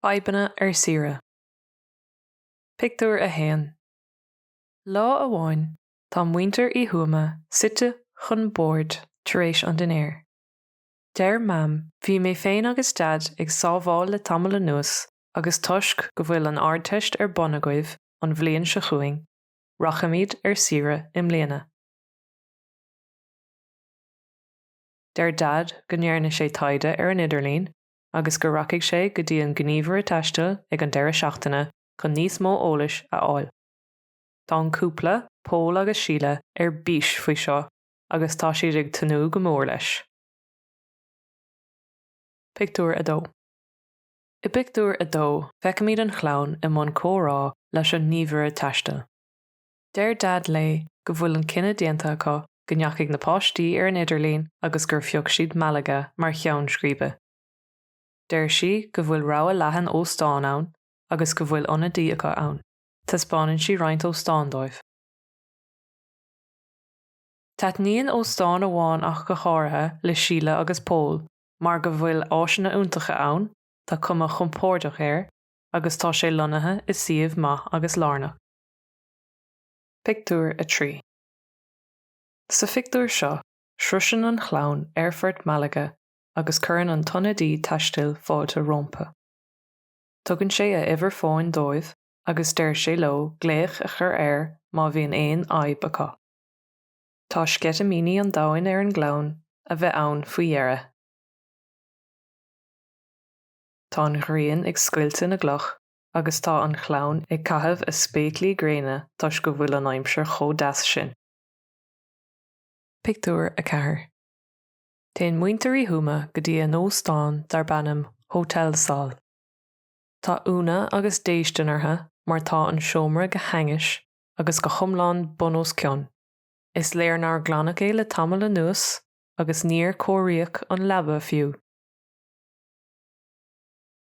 Fadhbanna ar saoire. Pictiúr 1 Lá amháin tá muintir Uí Thuama suite chun bord tar éis an dinnéir. Deir Mam 'Bhí mé féin agus Daid ag sábháil le tamall anuas agus toisc go bhfuil an Ardteist ar bun agaibh, an bhliain seo chugainn, rachaimid ar saoire i mbliana. Deir Daid go ndearna sé taighde ar an idirlíon agus go rachaidh sé go dtí an gníomhaire taistil ag an deireadh seachtaine chun níos mó eolais a fháil. Tá an cúpla, Pól agus Síle, ar bís faoi seo agus tá siad ag tnúth go mór leis. Pictiúr 2 I bpictiúr a dó, feicimid an chlann i mbun comhrá leis an ngníomhaire taistil. Deir Daid léi go bhfuil an cinneadh déanta acu, go ndeachaigh na páistí ar an idirlíon agus gur phioc siad Malaga mar cheann scríbe. Deir sí go bhfuil rogha leathan óstán ann agus go bhfuil ionadaí acu ann. Taispeánann sí roinnt óstán dóibh. Taitníonn óstán amháin ach go háirithe le Síle agus Pól mar go bhfuil áiseanna iontacha ann, tá cuma chompórdach air agus tá sé lonnaithe i suíomh maith agus lárnach. Pictiúr 3 Sa phictiúr seo, sroiseann an chlann aerfort Malaga agus cuireann an t-ionadaí taistil fáilte rompu. Tugann sé a uimhir fóin dóibh agus deir sé leo glaoch a chur air má bhíonn aon fhadhb acu. Tá sceitimíní an domhain ar an gclann a bheith ann faoi dheireadh. Tá an ghrian ag scoilteadh na gcloch agus tá an chlann ag caitheamh a spéaclaí gréine toisc go bhfuil an aimsir chomh deas sin. Pictiúr 4 Téann muintir Uí Thuama go dtí a n-óstán darb ainm Hotel Sol. Tá ionadh agus déistean orthu mar tá an seomra go hainnis agus go hiomlán bun os cionn. Is léir nár glanadh é le tamall anuas agus níor cóiríodh an leaba fiú.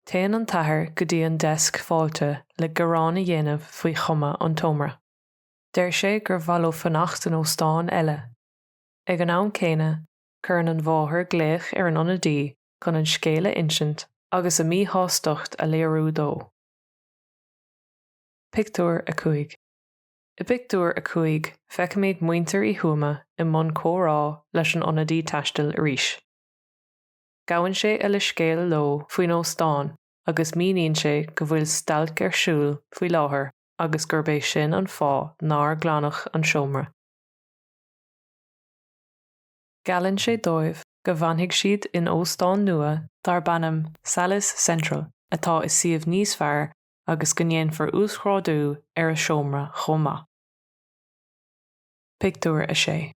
Téann an t-athair go dtí an deisc fáilte le gearán a dhéanamh faoi chuma an tseomra. Deir sé gur mhaith leo fanacht in óstán eile. Ag an am céanna, cuireann an mháthair glaoch ar an ionadaí chun an scéal a insint agus a míshástacht a léiriú dó. Pictiúr 5 I bpictiúr a cúig feicimid muintir Uí Thuama i mbun comhrá leis an ionadaí taistil arís. Gabhann sé a leithscéal leo faoin óstán agus míníonn sé go bhfuil stailc ar siúl faoi láthair agus gurb é sin an fáth nár glanadh an seomra. Geallann sé dóibh go bhfanfaidh siad in óstán nua darb ainm Salles Central atá i suíomh níos fearr agus go ndéanfar uasghrádú ar a seomra chomh maith. Pictiúr 6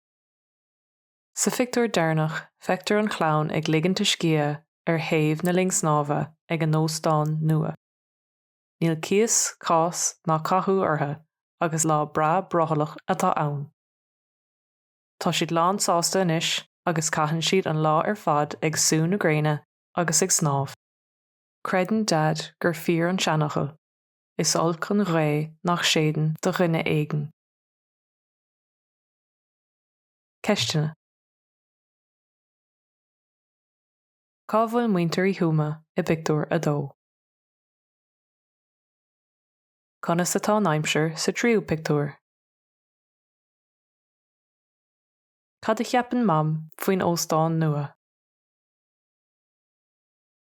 Sa phictiúr deireanach feictear an chlann ag ligint a scíth ar thaobh na linne snámha ag a n-óstán nua. Níl cíos, cás ná cathú orthu agus lá breá brothallach atá ann. Tá siad lán-sásta anois agus caitheann siad an lá ar fad ag sú na gréine agus ag snámh. Creideann Dad gur fíor an seanfhocal, Is olc an ghaoth nach séideann do dhuine éigin. Ceisteanna. Cá bhfuil muintir Uí Thuama i bpictiúr a dó? Conas atá an aimsir sa tríú pictiúr? Cad a cheapann Mam faoin óstán nua?